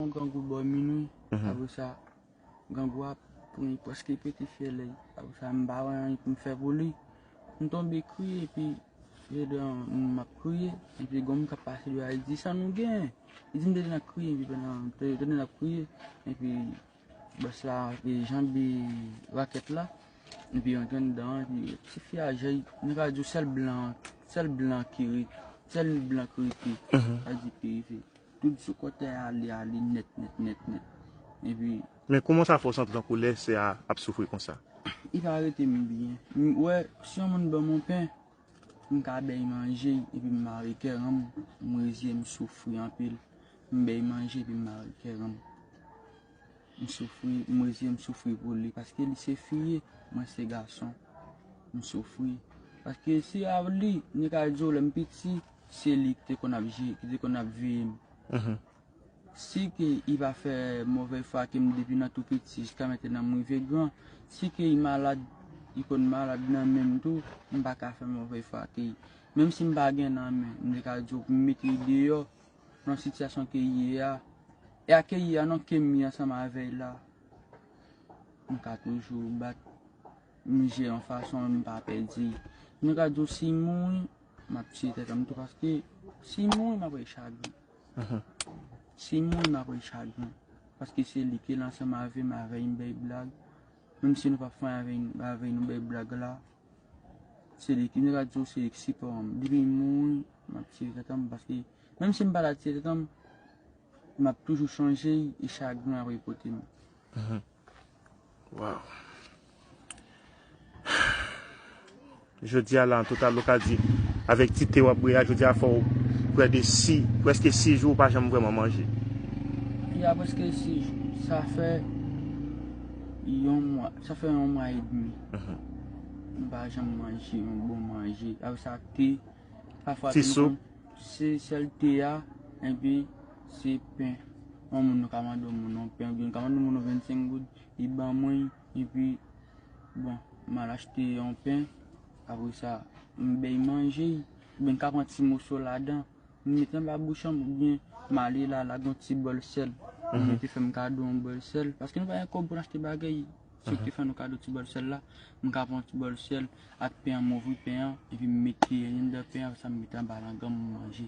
Yon grangou bò minwi, apre sa grangou a pran li prèske pete fyèl li, apre sa m pa wè anyen pou m fè pou li, m tonbe kriye epi je de an m ap kriye, epi gon moun k ap pase deyò a li di sa nou gen? Li di m te gentan kriye epi pandan m te tande l ap kriye epi bòs la te janbe rakèt la epi rantre anndan an epi ti fi a jèy nou ka di w sèl blan, sèl blan ki ret, sèl blan ki rete, sa di ki rete. Tout sou kotè a ale ale nèt nèt nèt nèt. Epi. Men kouman sa fè w santi tankou lè sè a ap soufri konsa? Li pa rete m byen. M wè si yon moun ban m yon pen, m ka bay manje epi m mare kè ran m. M reziyen m soufri anpil. M bay manje epi m mare kè ran m. M soufri, m reziyen m soufri pou li. Paske li se fi, mwen se gason. M soufri. Paske si avl li, li ka di w lè m piti. Se li ki te konn ap je, ki te konn ap veye m. Si ke i va fè movè fwa ke m depi nan tou piti jiska mentenan m rive gran, si ke i malad, i konn malad nan men m tou, m pa ka fè movè fwa ke i. Menm si m pa gen nan men, m te ka di w pou m mete i deyò nan sitiyasyon ke i ye a. E a ke i ye a non, ke m ye ansanm avè i la. M ka toujou bat, m je yon fason m pa pè di. M te ka di w si m mouri. Map tiye tèt anm tou paske sim mouri map rete chagren. Sim mouri map rete chagren. Paske se li ki lan sanm avèm avè yn bèy blag. Menm si nou pap fann avè yn bèy blag la. Se li ki nou ka diw se li ki sipò anm. Depi l mouri map tiye tèt anm paske menm sim pata tiye tèt anm map toujou sonje y e chagren ap repote m. Waw. Jodi a la an total ou ka di avèk ti te wap bwe a jodi a fòw prè de si preske si jou ou pa janm vreman manje. Ya preske si jou. Sa fè yon mwa, sa fè yon mwa e demi. M pa janm manje yon bon manje. Avèk sa te. Ti soup. Se sèl te a enpi. Se pen. Yon moun nou ka mande yon moun yon pen. Oubyen nou ka mande yon moun yon 25 goud. Li ban mwen. E pi, bon, m al achte yon pen. Apre sa, m bay manje. Oubyen m ka pran ti moso ladan. M mete anba bouch an m. Oubyen m ale la lagon ti bòl sèl. M mete fè m kado yon bòl sèl. Paske nou pa gen kòb pou n achte bagay. Si ou te fè nou kado ti bòl sèl la, m ka pran ti bòl sèl ak pen an, m ouvri pen an, epi m met kiyè an anndan pen an, apre sa m met anba langan m, m manje.